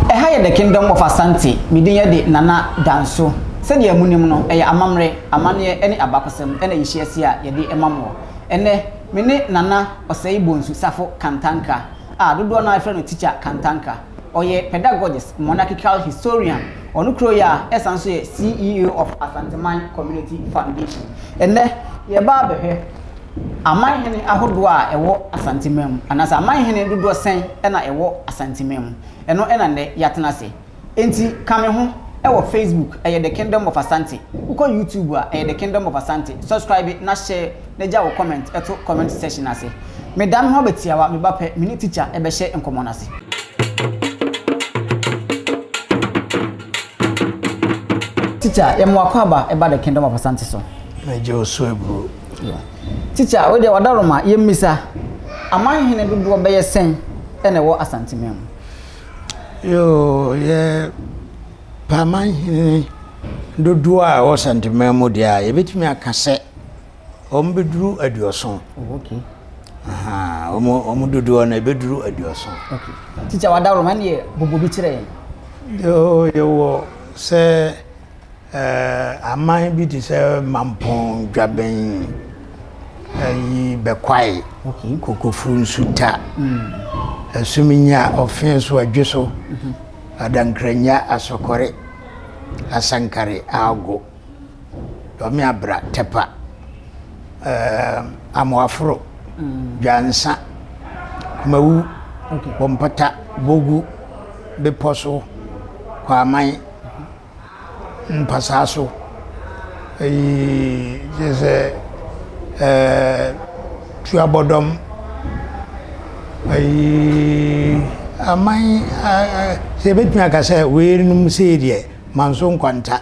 Ɛha yɛ The Kingdom of Asante. Me din yɛ de Nana Danso. Sɛdeɛ mo nim no, ɛyɛ amammerɛ, amanneɛ ɛne abakɔsɛm ɛna yɛhyia asie a yɛde ma moɔ. Ɛnɛ, me ne Nana Osei Bonsu Safo Kantanka a dodoɔ no ara frɛ no Teacher Kantanka. Ɔyɛ pedagogist, monarchical historian, ɔno kura yi a ɛsan nso yɛ CEO of Asanteman Community Foundation. Ɛnnɛ, yɛreba abɛhwɛ aman hene ahodoɔ a ɛwɔ Asanteman mu, anaasɛ aman hene dodoɔ sɛn na ɛwɔ Asanteman mu. Ɛno na nnɛ yɛatena ase. Enti ka me ho wɔ Facebook, ɛyɛ The Kingdom of Asante. Wokɔ YouTube a, ɛyɛ The Kingdom of Asante. Subscribe na hyɛ. na gya wo comment to comment section no ase. Me da me ho aba tiawa, me ba pɛ, me ne teacher bɛhyɛ nkɔmmɔ no ase. Teacher, yɛ mo akwaaba ɛba the kingdom of Asante so. Me gye wo so aburo. Teacher, wo deɛ wada roma, yɛ mmisa, aman hene dodoɔ bɛyɛ sɛn ɛna ɛwɔ Asante man mu? Yoo, yɛ pɛ aman hene dodoɔ a ɛwɔ Asante man mu deɛ a, yɛbɛtumi aka sɛ, wɔn bɛduru aduɔso wɔn dodoɔ no ɛbɛduru aduɔso tikya wadaworoma ne yɛ bobo bi kyerɛ yɛn yɛwɔ sɛ aman bi te sɛ mampɔn dwabɛn ayi bɛkwae kokofuru nsuta asum hmm. nya ɔfe so adwe so mhm. adankranya asɔkɔre asankare ago Dɔme abra tɛpa um, Amoaforo, Dwansa, Kumawu, Bompata, Bogu, Bepɔ so, Kwaman, Mpasaa so. Eyi kyerɛ sɛ um, Tuabɔdɔm, eyi aman a sɛ yɛbɛtumi aka sɛ weinom sei deɛ, Manso Nkwanta.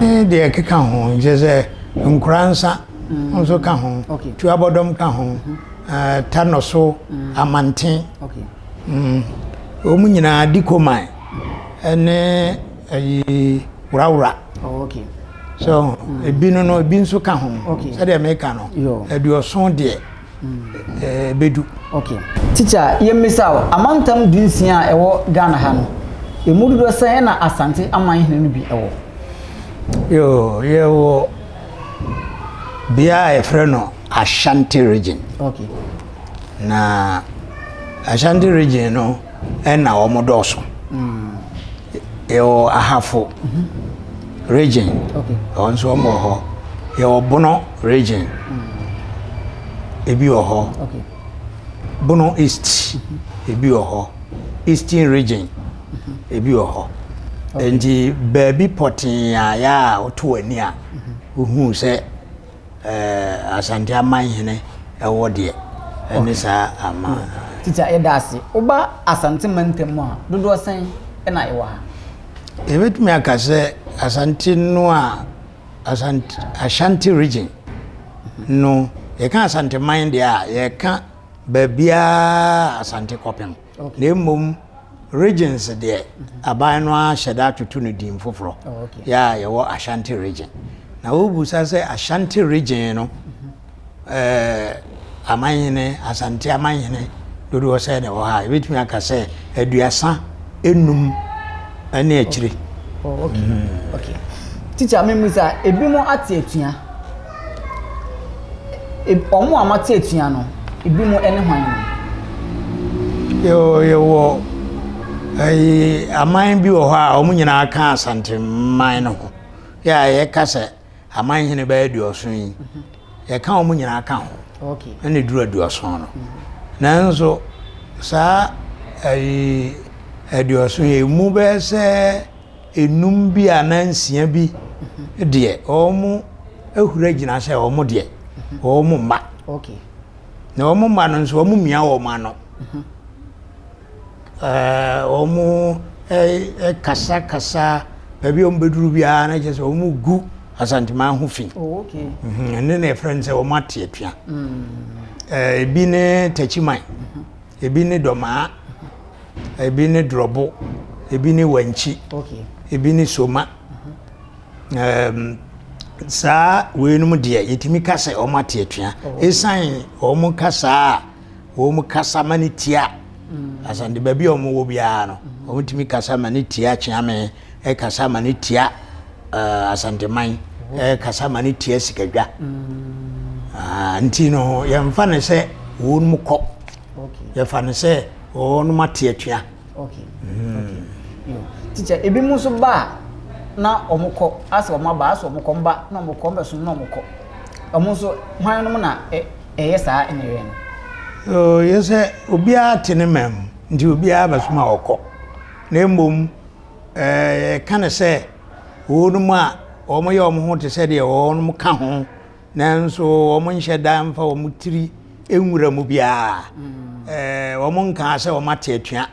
ne deɛ ɛkeka ho nkyɛ sɛ nkora nsa nso ka ho tuabɔdɔm ka ho ta nɔso amanten wɔn nyinaa di koman ɛne ɛyi wurawura so ebi no no ebi nso ka ho sɛdeɛ meka no aduɔson deɛ. ɛɛ bɛdu. Okay. Teacher, yɛmmisa wo, amantam dunsia a ɛwɔ Ghana ha no, ɛmu dodoɔ sɛn na Asante amanhene no bi wɔ? Yoo, yɛwɔ bea a yɛfrɛ no Ashanti region. Okay. Na Ashanti region no, Ɛna wɔn dɔɔso. Yɛwɔ Ahafo region. Okay. Wɔn nso wɔn wɔ hɔ. Yɛwɔ Bono region. Ebi wɔ hɔ. Okay. Bono East. Ebi wɔ hɔ. Eastern region. Ebi wɔ hɔ. Nti baabi pɔtee a yɛ a woto w'ani a wohu sɛ Asante amanhene wɔ deɛ ɛne saa ama. Tita yɛda ase. Woba Asante mantam mu a dodoɔ sɛn na ɛwɔ ha? Yɛbɛtumi aka sɛ Asante no a Asante Ashanti region no yɛka Asante man deɛ a yɛka baabiara Asante kɔpem. na mmom regions deɛ aban no ara hyɛ da atoto no din foforɔ yɛ a yɛwɔ ashanti region na wobusa sɛ ashanti region no eh, amanhene asante amanhene dodoɔ sɛ na ɛwɔ ha yɛbɛtumi aka sɛ aduasa enum ne akyire oh, okay. Mm. okay. tikya memu sɛ ebinom ate atua Wɔn a wɔate atua no, ebinom ne hwan? Yɛwɔ yɛwɔ ɛyi aman bi wɔ hɔ a wɔn nyinaa ka Asanteman no ho yɛ a yɛka sɛ aman hene bɛyɛ aduɔson yi yɛka wɔn nyinaa ka ho ɛna eduru aduɔson no nanso saa ɛyi aduɔson yɛ mu bɛyɛ sɛ. nnum bi anaa nsia bi deɛ, wɔahura gyina sɛ wɔn deɛ, wɔn mma. Na wɔn mma no nso, wɔmia wɔn ano. Wɔn kasakasa, baabi a wɔbɛduru biara na kyerɛ sɛ wɔgu Asanteman ho fi. Oh, mhm, ɛno na yɛfrɛ no sɛ wɔate atua. Mm. Ebi ne Takyiman. Ebi ne dɔmaa, ebi ne drɔbo, ebi ne wankyi, ebi ne soma. Um, saa weinom deɛ yɛtumi ka sɛ wɔn ate atua ɛsiane oh, wɔn kasa a wɔn kasa ma ne tia mm. asante baabi a wɔn wɔ biara no wɔtumi kasa ma ne tia kyeame ɛkasa ma no tia uh, asanteman mm-hmm. ɛkasa ma no tia sikadwa mm. uh, nti no yɛmfa no sɛ wɔn mu kɔ okay. yɛfa no sɛ wɔn mu ate atua okay. mm. okay. teacher ebi mu nso ba a na wɔn kɔ asɛ wɔn aba asɛ wɔn kɔ mba na wɔn kɔ mbɛso na wɔn kɔ wɔn nso hwan nom na ɛyɛ saa ɛna ɛyɛ no. yɛ sɛ obiara te ne mɛm nti obiara bɛso ma ɔkɔ na mmom yɛka no sɛ wɔnom a wɔyɛ wɔn ho te sɛ deɛ wɔnom ka ho nanso wɔn nhyɛ da mfa wɔn tiri nwura mu biara mm. wɔn nkaa sɛ wɔn ate atua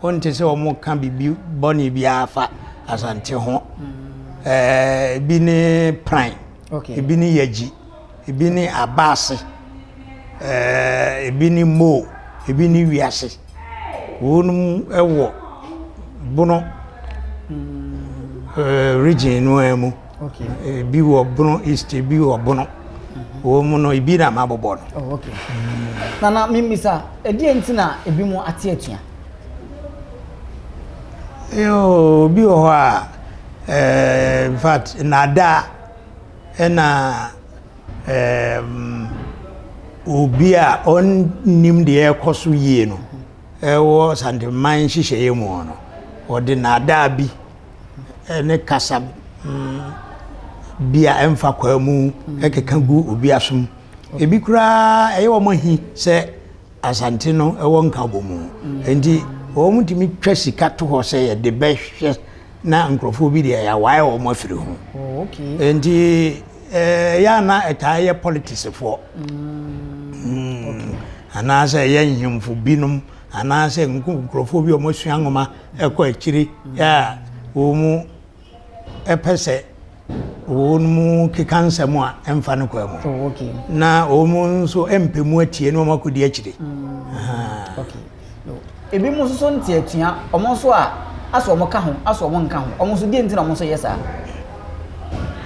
wɔn te sɛ wɔn ka biribi bɔne biara fa asante ho mm. ebi ne pran ebi ne yagyi. Ebi ne aba ase, ebi ne mo, ebi ne wiase. Wɔnom wɔ Bono region no ara mu. Ebi wɔ Bono East, ebi wɔ Bono. Wɔn mu no, ebi na mabobɔ no. Oh, Nana, mimmisa, ɛdeɛ nti na ebi mu ate atua? Yoo, obi wɔ hɔ a, in fact, nnaadaa Ɛna ɛɛm obi a ɔnnim deɛ ɛrekɔ so yie no ɛwɔ Santeman nhyehyɛeɛ mu no, ɔde naadaa bi ne kasa mm, bi a ɛmfa kwaa mu ɛkeka gu obi asom. Ebi koraa ɛyɛ wɔn ahi sɛ Asante no ɛwɔ nkabɔmu. Enti wɔn tumi twa sika to hɔ sɛ yɛde bɛhwɛ na nkurɔfoɔ bi deɛ yɛawae wɔn afiri ho oh, okay. nti eh, yɛ a na ɛtaa yɛ politicsfoɔ mm, mm. okay. anaasɛ ɛyɛ nhemfo binom anaasɛ nkurɔfoɔ bi a wɔasua nwoma ɛkɔ akyiri yɛ a wɔn mu ɛpɛ sɛ wɔnom keka nsɛm a ɛmfa no kwa mu oh, okay. na wɔn nso mpɛ mu atie na wɔn akɔdi akyire mm. okay. no. ebi mu nso nte atua wɔn nso a asɔ wɔn ka ho asɔ wɔn nka ho wɔn nso deɛ nti na wɔn nso yɛ saa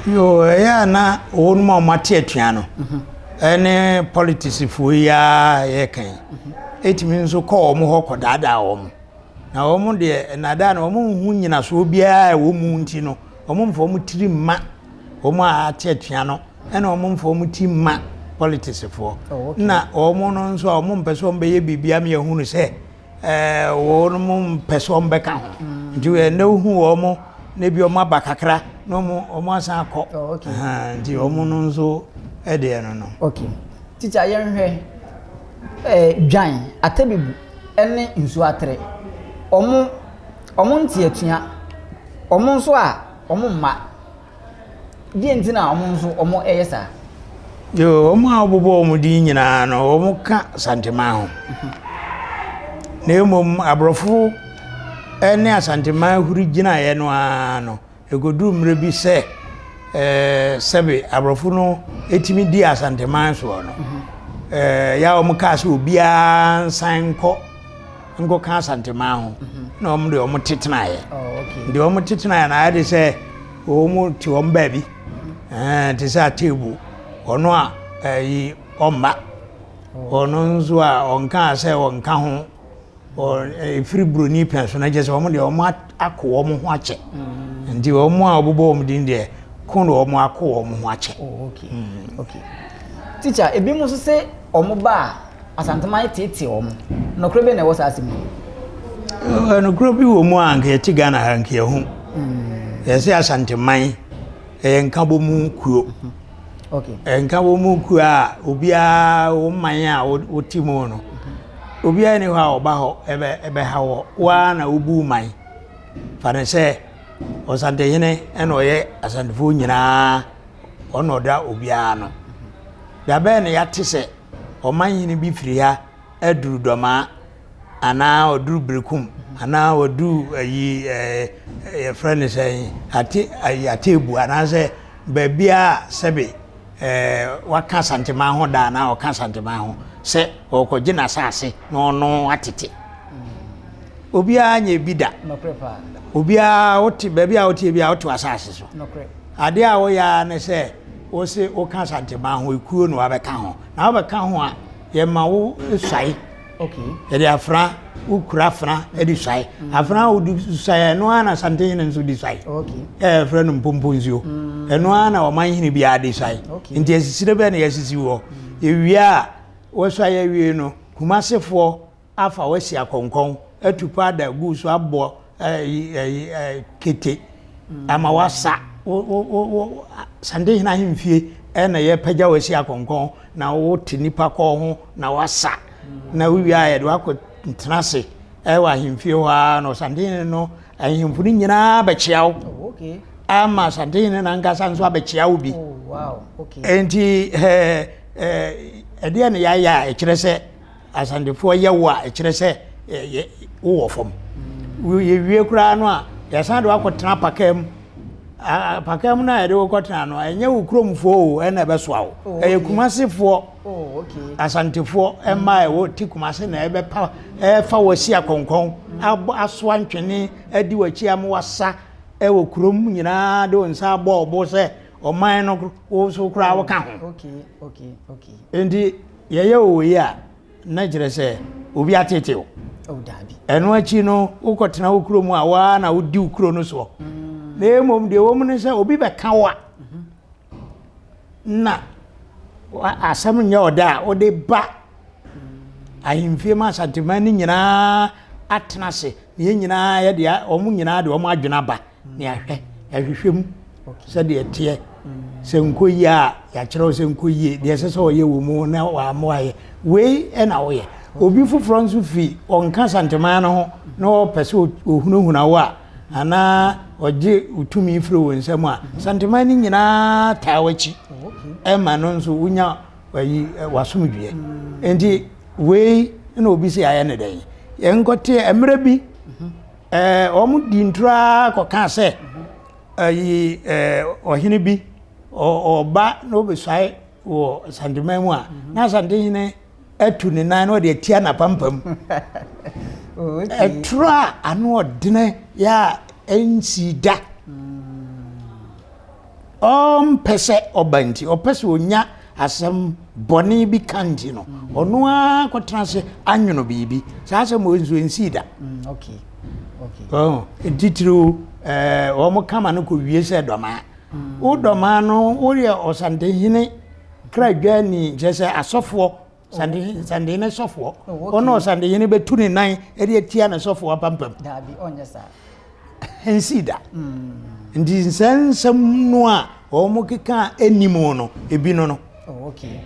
yo ɛyɛ a na wɔnom a wɔate atua no mhm. ɛne politicsfoɔ yi a yɛkan mhm. ɛtumi nso kɔ wɔn hɔ kɔdaadaa wɔn na wɔn deɛ nnadaa na wɔn ho nyinasoɔ biara a wɔn mu nti no Wɔmfa wɔn tiri mma wɔn a wɔate atua no, ɛna wɔmfa wɔn ti mma politicsfoɔ. Oh, okay. Na wɔn no nso a wɔmpɛ sɛ wɔbɛyɛ biribiara ma yɛhunu sɛ eh, wɔn mpɛ sɛ wɔbɛka ho. Mm. Nti ɛnɛ eh, wohu wɔn na bi wɔn aba kakra na wɔn asan akɔ. Oh, okay. Nti wɔn no nso ɛdeɛ eh, no no. Okay. Titi ayɛnhwɛ eh, dwan, atɛbibu ɛne nsuo atere. Wɔn Ɔmo nte atua, ɔmo nso a ɔmo mma. Deɛ nti na ɔmo nso ɔmo ɛyɛ saa? Yoo, ɔmo a ɔbobɔ ɔmo din nyinaa no, ɔmo ka Santemaa ho. Na mmom aborɔfo ɛne Asantemaa huri gyinaeɛ no ara no. Ɛkɔduru mmerɛ bi sɛ sɛbe aborɔfo no tumi dii Asanteman soɔ no, ɛyɛ a wɔkaa sɛ obiara nsan nkɔ nkɔka Asanteman ho na wɔn deɛ wɔn tetenaeɛ. Deɛ oh, wɔn tetenaeɛ no ayɛ de sɛ wɔn te wɔn baabi te sɛ ateebu ɔno a ɛyi ɔmma ɔno nso a ɔnkaa sɛ ɔnka ho wɔn ɛfiri buroni pɛn so na kyerɛ sɛ wɔn deɛ wɔn ako wɔn ho akyɛ nti wɔn a wɔbobɔ wɔn din deɛ ko na wɔn ako wɔn ho akyɛ. Oh, okay mm. okay teacher ebi mu nso sɛ wɔn ba a asantuma ayɛ tete wɔn nɔkorɛ bɛ na ɛwɔ saa asɛm yi. nɔkorɛ bi wɔ mu a nka yɛte ghana ha nka yɛho mm. yɛsɛ asanteman ɛyɛ nkabɔ mu kuo. Mm -hmm. ɛnka wɔn mu nkuo a obiara wɔn man a wɔte mu no obiara ni hɔ a ɔba hɔ ɛbɛ ɛbɛha wɔ waa na wobu man fa ne sɛ ɔsantehene ɛna ɔyɛ asantefoɔ nyinaa ɔna ɔda obiara no dabɛn na yɛate sɛ ɔman hene bi firi ha aduru dɔmaa. anaa ɔduru berekum anaa ɔduru ayi ɛɛ yɛfrɛ no sɛ ate ayi ateebu anaasɛ baabi a sɛbe ɛɛ waka santeman ho da anaa ɔka santeman ho sɛ ɔrekɔgye n'asaase na ɔno atete obiara nyɛ bi da obiara wote baabi a wote bi a wote asaase so adeɛ a woyɛ ara ne sɛ wose woka santeman ho ekuo na wabɛka ho na wabɛka ho a yɛma wo suae. yɛde afena wokura afena de suae afena a wode suae ɛno ara na santehene nso de suae ɛɛ frɛ no mpompo nsuo mm. ɛno ara na ɔman hene biara de suae nti asisire bɛɛ na yɛasisi wɔ ewie a wɔsuae awie no kumasefoɔ afa wɔasi akɔnkɔn atu paada gu so abɔ kete ama wasa sande hena ahemfie ɛna yɛpagya wo asi akɔnkɔn na wote nipa kɔɔ ho na wasa na wowie a yɛde wakɔ ntena ase ɛwɔ ahemfie hɔ a na ɔsande hene no ahemfo no nyinaa bɛkyea wo oh, ama asante hene no ankasa nso abɛkyea wo bi oh, ɛnti ɛdeɛ ne yɛayɛ a ɛkyerɛ sɛ Asantefoɔ yɛ wo a, ɛkyerɛ sɛ wowɔ fam. Yɛwie koraa no a, yɛsan de wakɔtena pakaa mu. Pakaa mu no a yɛde wokɔtena no, ɛnyɛ wo kuromfoɔ o ɛna ɛbɛsoa wo. Oh, ɛyɛ Kumasefoɔ, oh, Asantefoɔ mma a ɛwɔ ti Kumase na ɛbɛpa ɛfa wɔ si akɔnkɔn, asoa ntwene, adi w'akyi ama wasa ɛwɔ kurom nyinaa de wo nsa abɔ ɔbo sɛ ɔman no wo so koraa woka ho. Nti yɛyɛ wo wei a na kyerɛ sɛ obi atete wo ɛno akyi no wokɔtena wo kuro mu a waa na wodi wo kuro no soɔ na mmom deɛ wɔ mu no sɛ obi bɛka wo a na asɛm nyɛ ɔda a wode ba ahemfie ma asantema no nyinaa atena ase na yɛn nyinaa yɛde wɔn nyinaa de wɔn adwene aba ne ahwɛ ahwehwɛ mu sɛdeɛ ɛteɛ sɛ nkɔ yie a yɛakyerɛw sɛ nkɔ yie deɛ ɛsɛ sɛ ɔyɛ wɔ mu na wɔamoayɛ wei na woyɛ obi foforɔ nso fi ɔnka santemaa no ho na ɔpɛ sɛ ɔhunahuna wo a anaa ɔgye tumi firi wo nsam a santemaa no nyinaa taa w'akyi ɛma no nso wonya ayi wasomdwoeɛ nti wei na obi sɛ ayɛ ne dɛn yɛnkɔteɛ mmerɛ bi Ɛɛ wɔn di ntoro ara kɔka sɛ ayi ɛɛ ɔhene bi ɔba na ɔbɛsuae wɔ asanteman mu a mhm. na asantehene atu ne nan na ɔde atia n'apampam oh, ɛtoro a ano ɔdene yɛ a ɛnsi da mm. ɔmpɛ sɛ ɔba nti, ɔpɛ sɛ ɔnya asɛm bɔne bi ka nti no, ɔno ara kɔtena ase anwono biribi. Saa asɛm wɔ nso nsii da. Titiriw wɔn kama no kɔ wie sɛ dɔmaa. Wo dɔmaa no woyɛ ɔsantenhene kradwani kyerɛ sɛ asɔfoɔ sandeyini sandeyini ne sɔfoɔ ɔno oh, sandeyini bɛtu ne nan ɛde atia ne sɔfoɔ apampam daabi ɔnyɛ saa ɛnsi da hmm. nti nsɛ nsɛm no a wɔn keka ɛni mu no ebi no no oh, okay.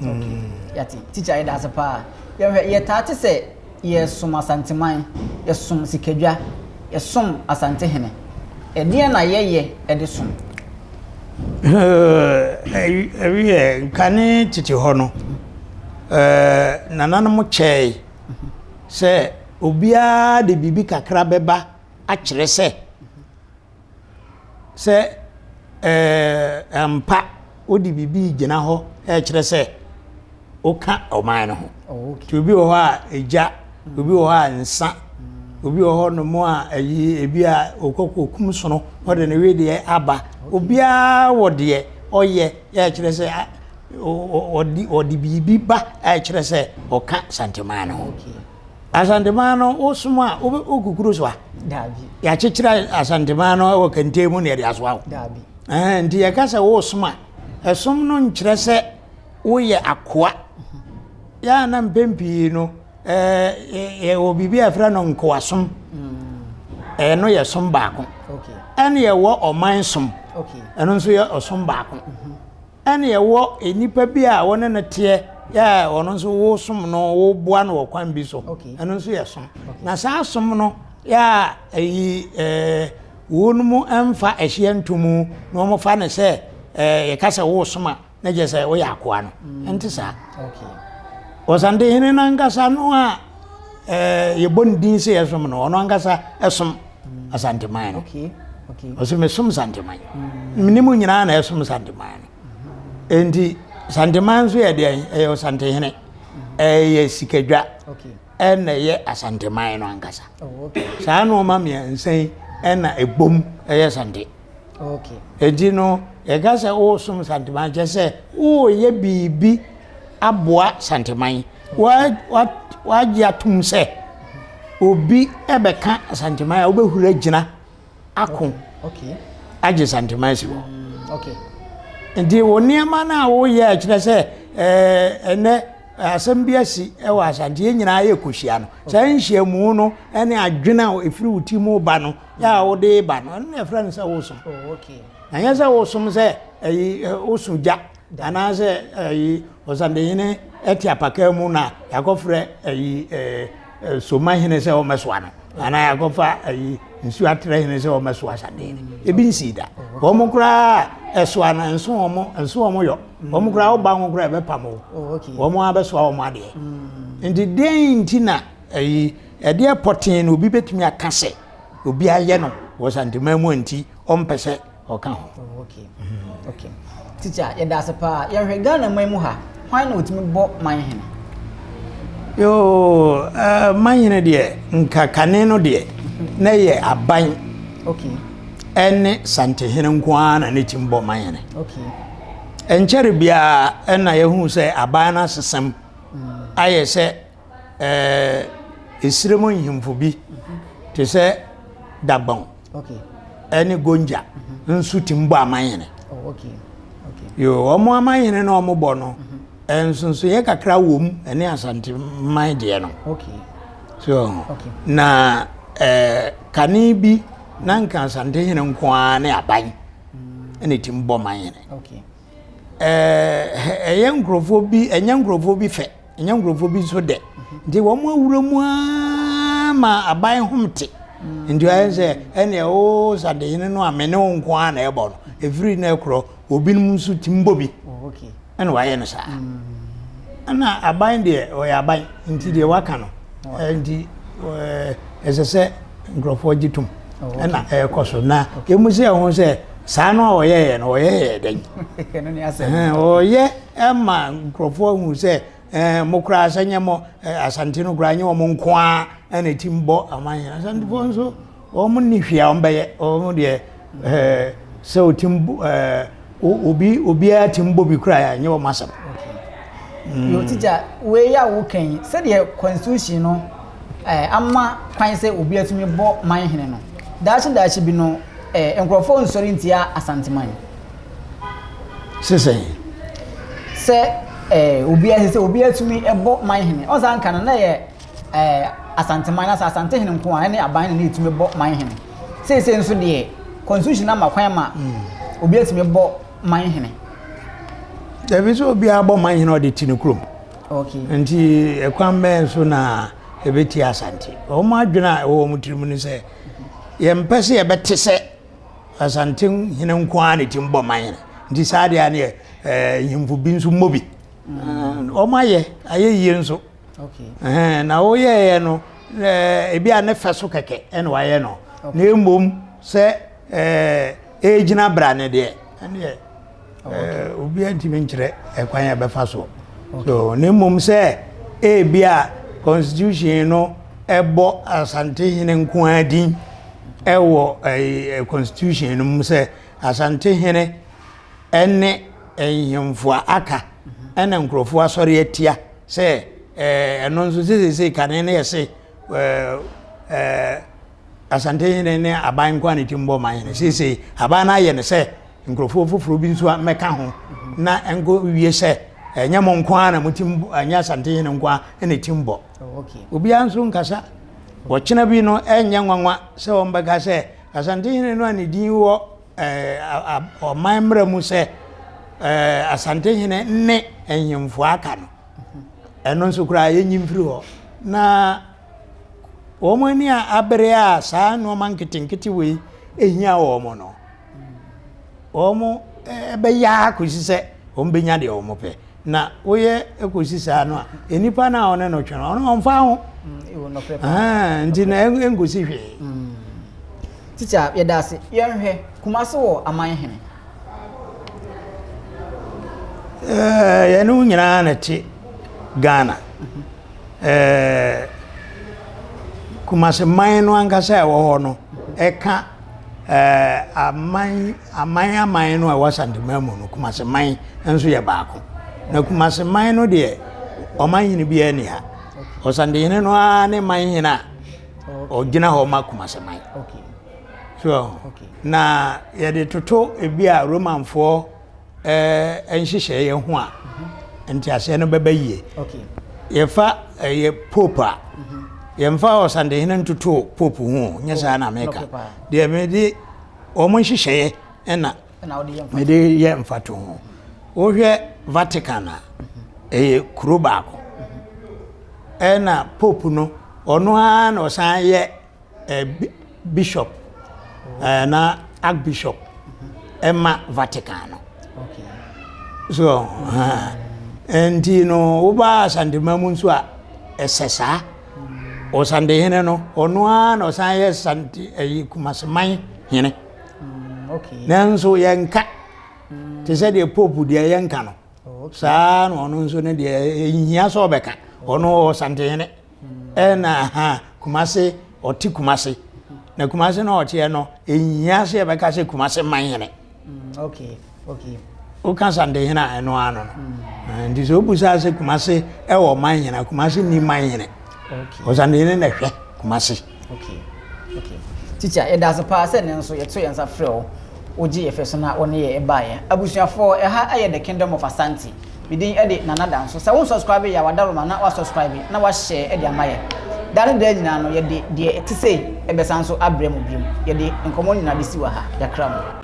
okay. Hmm. yɛte tikya yɛda ase paa yɛtaa te sɛ Yɛsom Asanteman, yɛsom Sikadwa, yɛsom Asantehene. Ɛdeɛn na yɛyɛ de som? Ɛwiɛ, kane tete hɔ no, nananom kyɛɛe sɛ obiara de biribi kakra bɛba akyerɛ sɛ. sɛ ampa wode biribi regyina hɔ rekyerɛ sɛ woka ɔman no ho. Nti obi wɔ hɔ a egya, obi wɔ hɔ a nsa, obi wɔ hɔ nom a ayi ebi a okɔkɔ kum sono ɔde ne wedeɛ aba. Obiara wɔ deɛ ɔyɛ ɛrekyerɛ sɛ ɔde ɔde biribi ba ɛrekyerɛ sɛ ɔka Santeman no ho. Asanteman no wosom a wogu kuro so a yɛakyekyerɛ asanteman no wɔ kɛntɛn mu na yɛde asoa wo nti yɛka sɛ wosom a ɛsom no nkyerɛ sɛ woyɛ akoa yɛa na mpɛn pii no yɛwɔ biribi a ɛfrɛ no nkoasom ɛno yɛ som baako ɛne yɛwɔ ɔman som ɛno nso yɛ ɔsom baako Ɛna ɛwɔ nnipa bi a wɔne no teɛ yɛ a ɔno nso wosom no woboa no wɔ kwan bi so ɛno nso yɛ som na saa som no yɛ a ɛyi ɛɛ wɔn mu mfa ɛhyeɛ ntomu na wɔn fa ne sɛ ɛɛ yɛka sɛ wosom a na gye sɛ woyɛ akoa no ɛnte saa ɔsantehene no ankasa no a ɛɛ yɛbɔ ne din sɛ yɛsom no ɔno ankasa ɛsom. asanteman no ɔsɛ mesom santeman mene mu nyinaa na ɛsom santeman no enti santeman nso yɛ deɛ ɛyɛ ɔsantehene ɛyɛ sikadwa ɛna ɛyɛ asanteman no ankasa oh, saa nneɛma mmiɛnsa yi ɛna ɛbom ɛyɛ sante Okay. Eti no, yɛka sɛ wosom santeman kyɛ sɛ woyɛ biribi aboa santeman. Wagye atom sɛ obi bɛka santeman a wobɛhura gyina ako agye santeman si hɔ. Mm, Nti wo nneɛma no a woyɛ akyerɛ sɛ ɛnɛ asɛm bi asi wɔ asanteɛ nyinaa yɛ kɔhyia no. Saa nhyiamu no ne adwene a ɛfiri wo ti mu ba no yɛ a wode ba no ɛno na ɛfrɛ no sɛ wosom oh, na nyɛ sɛ wosom sɛ ayi woso gya anaasɛ ayi ɔsandehene ɛte apaka mu na yɛakɔfrɛ ayi soma hene sɛ wɔmɛsoa no anaa yɛakɔfa ayi nsuo atrɛ hene sɛ wɔmɛsoa ɔsandehene ebi nsii da wɔn koraa ɛsoa no nso wɔn nso wɔn yɔ wɔn koraa woba wɔn koraa ɛbɛpam o oh, wɔn abɛsoa wɔn adeɛ mm. nti den nti na Ɛyi, ɛdeɛ pɔtee na obi bɛtumi aka sɛ obi ayɛ no wɔ santeman mu a nti ɔmpɛ sɛ ɔka ho. Oh, okay. Mm-hmm. Okay. Teacher, yɛda ase paa. Yɛhwɛ Ghana man mu ha, hwan na ɔtumi bɔ man hene? Yoo, uh, man hene deɛ, nkakane no deɛ, na yɛ aban. Okay. Ɛne santehene nko ara na ne tim bɔ man hene. Okay. Ɛnkyɛre biara ɛna yɛhu sɛ aban no asesɛm mm. ayɛ sɛ esire mu nhemfo bi te sɛ Dagbon ne Gonja nso tumi bɔ amanhene. Yoo, wɔn amanhene na wɔbɔ no, nsonsoeɛ kakra wɔ mu ɛne Asante man deɛ no. So, na kane bi na nka Asante hene nko ara ne aban ɛna ɛtumi bɔ manhene. Ɛyɛ nkurɔfoɔ bi, ɛnyɛ nkurɔfoɔ bi fɛ. ɛnyɛ nkurɔfoɔ bi nso dɛ nti wɔn awura mu ara ma aban hom te nti ayɛ sɛ ɛneɛ o sadehene no a me ne wo nko ara na ɛbɔ no ɛfiri na ɛkorɔ obinom nso ti mbɔ bi ɛna wayɛ no saa ɛna aban deɛ ɔyɛ aban nti deɛ waka no nti ɛsɛ sɛ nkurɔfoɔ gye tom ɛna ɛrekɔ so na ɛmu sɛ ɛho sɛ saa no a ɔyɛyɛ no ɔyɛyɛ dɛn ɔyɛ ɛma nkurɔfoɔ hu sɛ mo koraa sɛ nyɛ mo asante no koraa nyɛ wɔn nko ara ɛna ɛtim bɔ aman yɛn asantefoɔ nso wɔn ni hwee a wɔn bɛyɛ wɔn deɛ eh, sɛ otim eh, obi obiara tim bɔ bi kura a ɛnyɛ wɔn asɛm. Mm. yɛ ɔtigya wei yɛ a woka yi sɛdeɛ constitution no eh, ama kwan sɛ obi atumi bɔ man hene no daakye daakye bi no eh, nkurɔfoɔ nsɔre ntia asanteman sesɛn sɛ eh, obi asɛ sɛ obi atumi bɔ man hene ɔsan ka no na yɛ ɛɛ Asanteman anaasɛ Asantehene nko a ɛne aban na ɛtumi bɔ man hene. Seesei nso deɛ constitution ama kwan ma obi atumi bɔ man hene. Dabi sɛ obiara bɔ man hene ɔde ti no kurom. Okay. Nti ɛkwan bɛyɛ nso na ɛbɛti Asante. Wɔn adwene a ɛwɔ wɔn tirim no sɛ yɛmpɛ sɛ yɛbɛte sɛ Asante hene nko ara na ɛtumi bɔ man hene. Nti saa deɛ ne ɛɛ nhemfo bi nso mmɔ bi. Mm. Wɔn ayɛ ayɛ yie nso. Okay. Ɛhɛn na woyɛeɛ no ɛɛ ebi a ne fɛ so kɛkɛ ɛna wayɛ no na emom sɛ ɛɛ egyina bra ne deɛ ɛneɛ ɛɛ obi ntumi nkyerɛ ɛkwan yɛ bɛfa so so na emom sɛ ebi a constitution no ɛbɔ asantehene nko ara din ɛwɔ ɛɛ constitution no mu sɛ asantehene. ne nhemfo a aka na nkurɔfo asɔre atia sɛ ɛno nso sɛ seesei kane no yɛ se Asante hene ne aban nko a ne tim bɔ ma hene seesei aban no ayɛ no sɛ nkurɔfoɔ foforɔ bi nso mmɛka ho na ɛnkɔ wie sɛ ɛnyɛ mo nko a na mo tim ɛnyɛ Asante hene nko a na tim bɔ oh, obiara nso nkasa wɔkyena bi no ɛnyɛ nwanwa sɛ wɔn bɛka sɛ Asante hene no a ne din wɔ ɔman mmara mu sɛ Asantehene ne nhemfo aka no ɛno nso koraa yɛnyi mfiri hɔ na wɔn ani a abere a saa nneɛma nketenkete wei ehia wɔn no wɔn ɛbɛyɛ akɔsi sɛ wɔn bɛnya deɛ wɔn pɛ. na woyɛ kɔsi saa no a nnipa no a ɔne no twe no ɔno ɔmfa ho nti na ɛnkɔsi hwee mm. tikya yɛda ase yɛnhwɛ kuma se wɔ aman hene yɛne wo nyinaa na te ghana kuma se man no ankasa ɛwɔ hɔ no ɛka ɛɛ aman aman aman no a ɛwɔ Asanteman mu no, Kumase man nso yɛ baako. Na Kumase man no deɛ, ɔman hene biara ni ha. Ɔsantehene no ara ne man hene a ɔgyina hɔ ma Kumase man. So, na yɛde toto ebi a Romanfoɔ nhyehyɛeɛ ho a nteaseɛ no bɛba yie. Yɛfa ɛyɛ pope a yɛmfa ɔsantehene ntoto pope ho nyɛ saa na meka deɛ mede wɔn nhyehyɛeɛ ɛna mede yɛ mfato ho wohwɛ Vatican a ɛyɛ kuro baako ɛna pope no ɔno ara na ɔsan yɛ eh, bishop eh, na archbishop ɛma vatican no so eh, nti no woba asantema mu nso a ɛsɛ saa ɔsante hene no ɔno ara na ɔsan yɛ sante ɛyi eh, kumaseman hene mm, nanso yɛnka mm. te sɛ deɛ pope deɛ yɛnka no oh, saa na ɔno nso no deɛ ɛhia sɛ ɔbɛka ɔno ɔsante hene ɛna ha kumase ɔte kumase na kumase na ɔteɛ no ɛnyia sɛ yɛbɛka sɛ kumase man hene woka santehene a ɛno ano no nti sɛ wobu saa sɛ kumase ɛwɔ man hene kumase ni man hene ɔsantehene na hwɛ kumase Okay, okay. Teacher, yɛda ase paa sɛ ne nso yɛto yɛn nsa frɛ wo. Wogye yɛ fɛ so na wo ne yɛ baeɛ. Abusuafoɔ, ɛha yɛ The Kingdom of Asante. Me din de Nana Danso. Sɛ wo subscribe yɛ a, wadaroma na wa subscribe na wa share de ama yɛ. Da ne da nyinaa no, yɛde deɛ ɛte sei ɛbɛsan nso abrɛ mu biom. Yɛde nkɔmmɔ nyinaa bɛsi wɔ ha. Yɛakra mu.